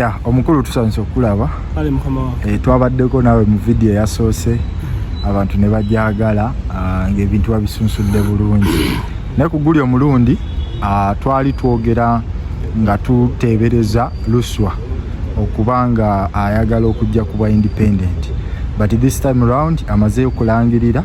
ya omukulu tusanyusa okukulaba eh, twabaddeko naawe mu vidiyo eyasoose abantu ne bajagala ah, ng'ebintu babisunsudde bulungi naye ku guli omulundi ah, twali twogera nga tuteebereza luswa okuba nga ayagala okujja ku bwa independent but this time round amazeyo okulangirira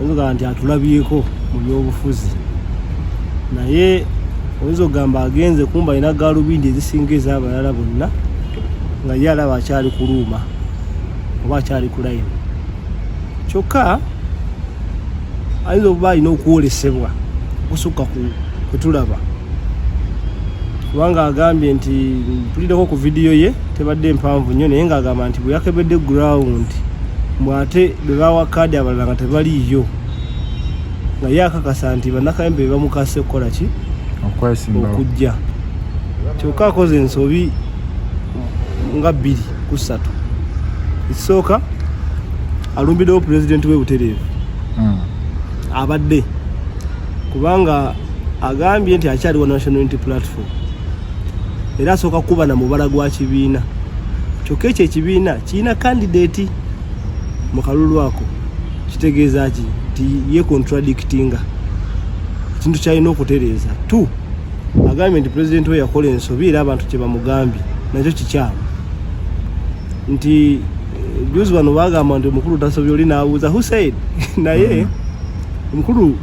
oyinza nti atulabyeko mu byobufuzi naye oyinza okugamba agenze kumba alina galubindi ezisinga ezabalala bonna nga ye alaba akyali kuluuma oba akyali kulayini kyokka ayinza okuba alina okwolesebwa okusukka kwetulaba kubanga agambye nti mpulireko ku vidiyo ye tebadde mpanvu nnyo naye ng'agamba nti bwe yakebedde ground mbu ate bwe bawa kaadi abalala nga tebaliiyo nga ye akakasa nti bannakayembe be bamukase okukola ki okujja kyokka akoze ensobi nga bbiri ku ssatu ekisooka alumbiddewo pulezidenti we butereevu hmm. abadde kubanga agambye nti akyaliwo national unity platform era asooka kuba na mubala gwa kibiina kyokka ekyo ekibiina kirina kandideeti mu kalulu ako kitegeeza ki nti ye contradictinga ekintu kyalina okutereeza t agambye nti pulezidenti we yakola ensobi era abantu kye bamugambye nakyo kikyamu nti juzi wano bagamba nti omukulu tasobya oli nabuuza husaid naye omukulu mm.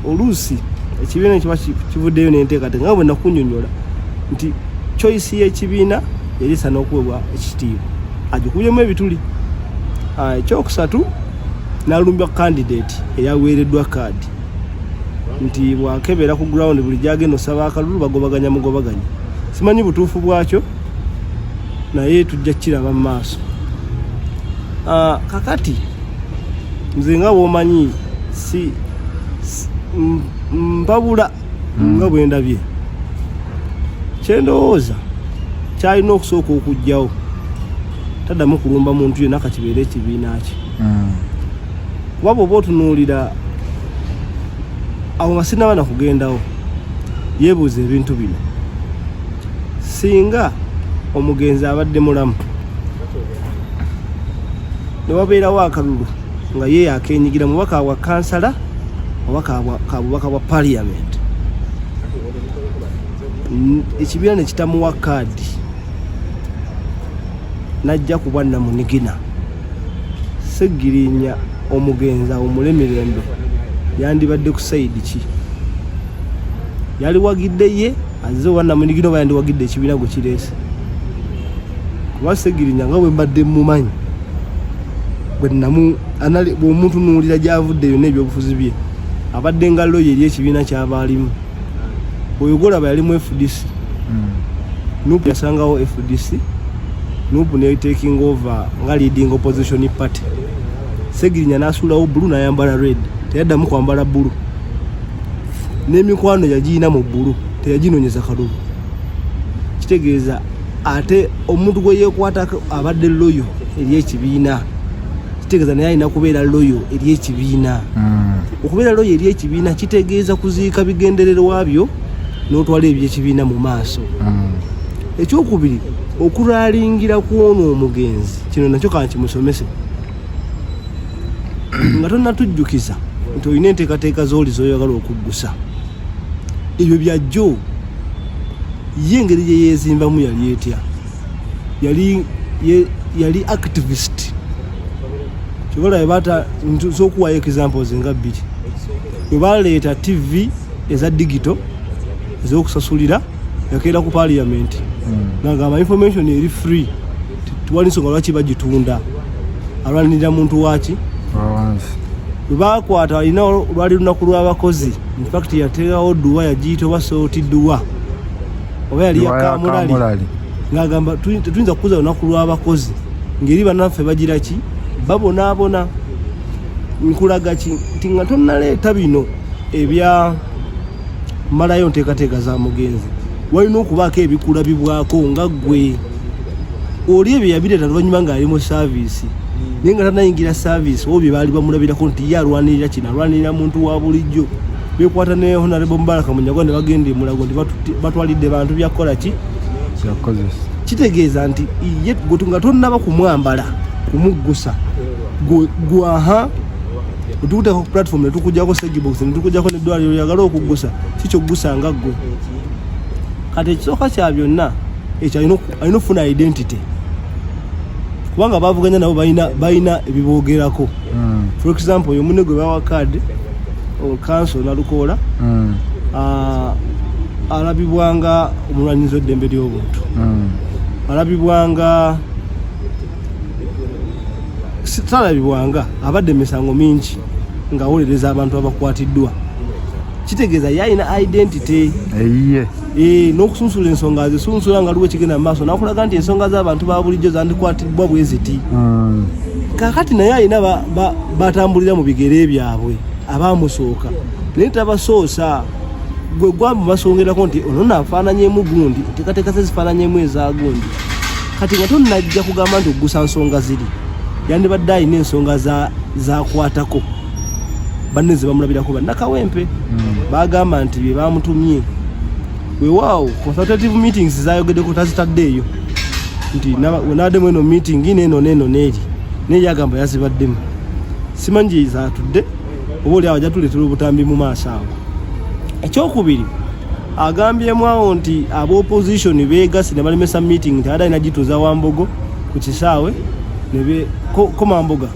oluusi ekibiina ekiba kivuddeyo nenteekateeka nga bwe nakunyonyola nti choice y'ekibiina yali esana okuwebwa ekitiibwa agikubyemu ebituli ah, ekyokusatu nalumbya candidate eyaweereddwa kaadi nti bwakebera ku ground buli gyagenda osaba akalulu bagobaganya mugobaganya simanyi butuufu bwakyo naye tujja kiraba mu maaso ah, kakati nze nga womanyi si mpabula hmm. nga bwendabye kyendowooza kyalina okusooka okugjawo taddamu kulumba muntu yena kakibeere ekibiina kye hmm. kuba bwoba otunuulira awo nga sinaba nakugendawo yebuuza ebintu bino singa omugenzi abadde mulamu ne wabeerawo akalulu nga ye yakenyigira mubaka wa kansala oba kabubaka bwa parliament ekibiina ne kitamuwa kaadi najja kuba namunigina segirinya omugenzi awumule mirembe yandibadde ku sayidi ki yaliwagidde ye aze oba namunigina oba yandiwagidde ekibiina gwe kireese kuba segirinya nga bwe mbadde mumanyi bwenamu omuntu nuwulira gyavudde yonna ebyobufuzi bye abadde nga loyo eri ekibiina kyaba alimu oyo golaba yalimu fdc hmm. nup yasangawo fdc nup netaking over nga leading opposition party segirinya nasuulawo bulu nayambala red teyaddamu kwambala bulu n'emikwano yagirina mu bbulu teyaginonyeza kalulu kitegeeza ate omuntu gwe yeekwatako abadde loyo eri ekibiina kitegeeza naye alina kubeera loyo eri ekibiina hmm. okubeera loyo eri ekibiina kitegeeza kuziika bigendererwa byo n'otwala ebyekibiina mu maaso hmm. ekyokubiri okuralingira kwona omugenzi kino nakyo kankimusomese nga tonatujjukiza nti olina enteekateeka z'oli zoyagala okuggusa ebyo byajjo ye engeri gye yeezimbamu yali etya yali yali activist kyobalabe bata zokuwayo examples nga bbiri webaleeta tv eza digito ezokusasulira yakeera ku parliament hmm. nagamba information eri free tuwali nsonga lwaki bagitunda alwanirira muntu waki lwebakwata alina lwali lunaku lw'abakozi infact yateerawo duwa yagiyita oba sooti duwa oba yali yakamulali ng'agamba tetuyinza kukuza lunaku lw'abakozi ngeri banaffe bagira ki babonaabona nkulaga ki nti nga tonnaleeta bino ebya malayo nteekateeka za mugenzi walina okubaako ebikulabibwako nga gwe oli ebyo yabireeta luvannyuma ng'ali mu saaviisi hmm. naye nga tanayingira saaviisi obo bye baali bamulabirako nti ye alwanirira kino alwanirira muntu wa bulijjo bekwata ne honarebo mubaraka munyago ne bagenda emulago nti batwalidde bantu byakukola ki kitegeeza nti ye nga tonnaba kumwambala kumuggusa gwaha Utukuteko ku platform ne tukujako stage box ne tukujako ne dwali oyagala okugusa kicho gusa nga gwe. Kati ekisoka kya byonna ekyo alina alina ofuna identity. Kubanga bavuganya nabo balina balina ebibogerako. Mm. For example, yo munne gwe bawa card o council na lukola. Mm. Uh, alabibwanga omulwanyizi w'eddembe ly'obuntu. Mm. Alabibwanga talabibwanga abadde misango mingi ngawolereza abantu abakwatiddwa kitegeeza yalina identity eyiye eh, n'okusunsula ensonga azisunsula nga luwe kigenda mumaaso nakulaga nti ensonga z'abantu ba bulijjo zandikwatiddwa bwe ziti hmm. kakati naye alina batambulira mu bigere byabwe abamusooka naye tabasoosa gwe gwamumasongerako nti ono nafaananyemu gundi tekateeka ze zifaananyemu eza gundi kati nga tonnajja kugamba nti okugusa nsonga ziri yandibadde alina ensonga zakwatako banne zebamulabirako bannakawempe hmm. bagamba nti byebamutumye wewaawo consultative meetings zayogedeko tazitadde eyo nti nabaddemu eno meeting neno neno neeri naye yagamba yazibaddemu simanyi gyezatudde oba oli awo ajatuleetera obutambi mu maaso awo ekyokubiri agambyemu awo nti aba opposition beegasi ne balemesa meeting nti ada inagituza wambogo ku kisaawe komamboga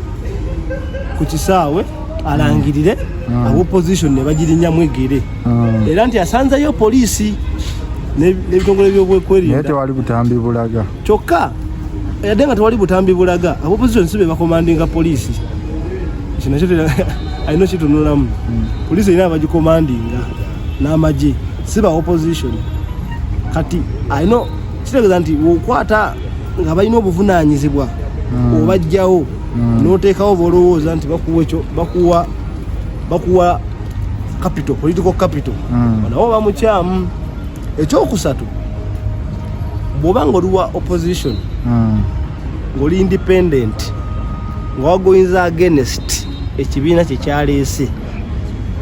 ku kisaawe alangirire mm. mm. aba opposition ne bagirinyamu egere mm. era nti asanzeyo poliisi n'ebitongole byobwekwerinda tewali butambi bulaga kyokka yadde nga tewali butambi bulaga aba opposition si be bakomandinga poliisi kino kyo alina kitunulamu mm. poliisi erina abagikomandinga n'amagye si ba opposition kati alina kitegeeza nti okwata nga balina obuvunaanyizibwa hmm. obajjawo hmm. n'oteekawo bolowooza nti bakuwa ekyo bakuwa bakuwa capital political capital hmm. nawo bamukyamu ekyokusatu bwoba nga oliwa opposition ng'oli independent nga wagoyinza against ekibiina kyekyaleese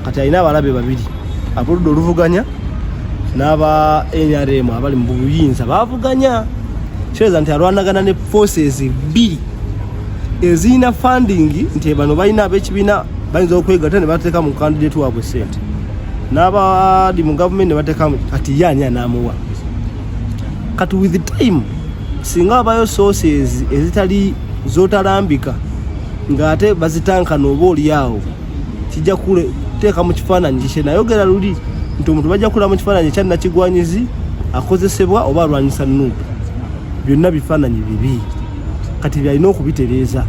kati alina abalabe babiri aboludda oluvuganya n'aba nrm abali mu buyinza bavuganya kireza nti alwanagana ne forces bbiri ezirina funding nti bano balina abekibiina bayinza okwegata ne bateeka mu kandidate waabwe sente n'abali mu gavumenti ne bateekamu kati ye ani anaamuwa kati with time singa wabayo sources ezitali zotalambika ng'ate bazitankana oba olyawo kijja kuteeka mu kifaananyi kikye nayogera luli nti omuntu bajja kula mu kifaananyi ekya nakigwanyizi akozesebwa oba alwanyisa nuupu byonna bifaananyi bibi kati byalina okubitereeza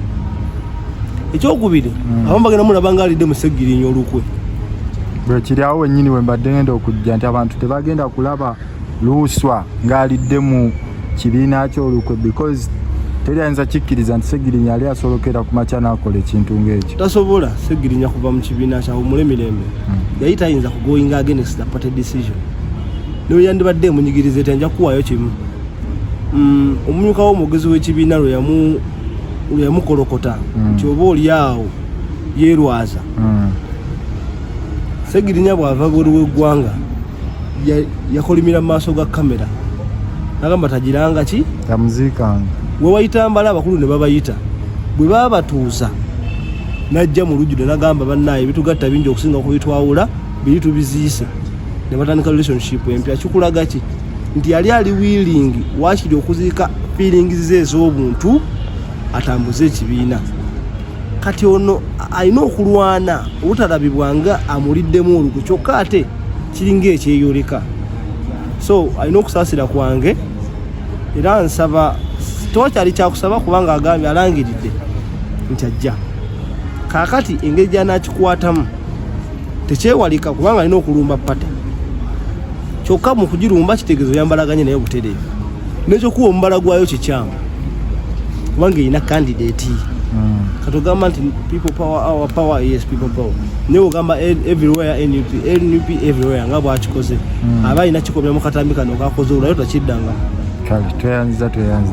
ekyokubiri mm. abamu bagenda mulaba nga alidde musegirinya olukwe bwekiri awo wenyini wembadde ngenda okujja nti abantu tebagenda kulaba luuswa ng'alidde mu kibiina kyolukwe because teri ayinza kikkiriza nti segirinya yali asolokera ku makya n'akola ekintu ng'ekyo tasobola segirinya kuva mu kibiina kyawumule mirembe hmm. yali tayinza kugoinga against the party decision naye yandibadde emunyigiriza eti anja kuwaayo kimu hmm, omumyuka w'omwogezi w'ekibiina lwe yamukolokota hmm. nti oba oli awo yeerwaza segirinya bw'ava buli w'eggwanga yakolimira mu maaso ga kamera nagamba tagiranga ki tamuziikanga wewayita mbala abakulu ne babayita bwe babatuuza najja mu lujjude nagamba bannaaye bitugatta bingi okusinga kubitwawula biri tubiziise ne batandika relationship empya kikulaga ki nti yali ali wiilingi wakiri okuziika fiilingizi ze ez'obuntu atambuze ekibiina kati ono alina okulwana obutalabibwa nga amuliddemu olugu kyokka ate kiringa ekyeyoleka so alina okusaasira kwange era nsaba tewakyali kyakusaba kubanga agambye alangiridde nti ajja kaakati engeri gyanakikwatamu tekyewalika kubanga alina okulumba pate kyokka mu kugirumba kitegeeza oyambalaganye naye butereevu nekyokuwa omubala gwayo kikyamu kubanga erina candidate hmm. katugamba nti people power our power yes people power naye ogamba e, everywhere nup nup everywhere nga bwakikoze hmm. aba alina kikomya mu katambi kano kakoze olwayo takiddanga tweyanziza tweyanze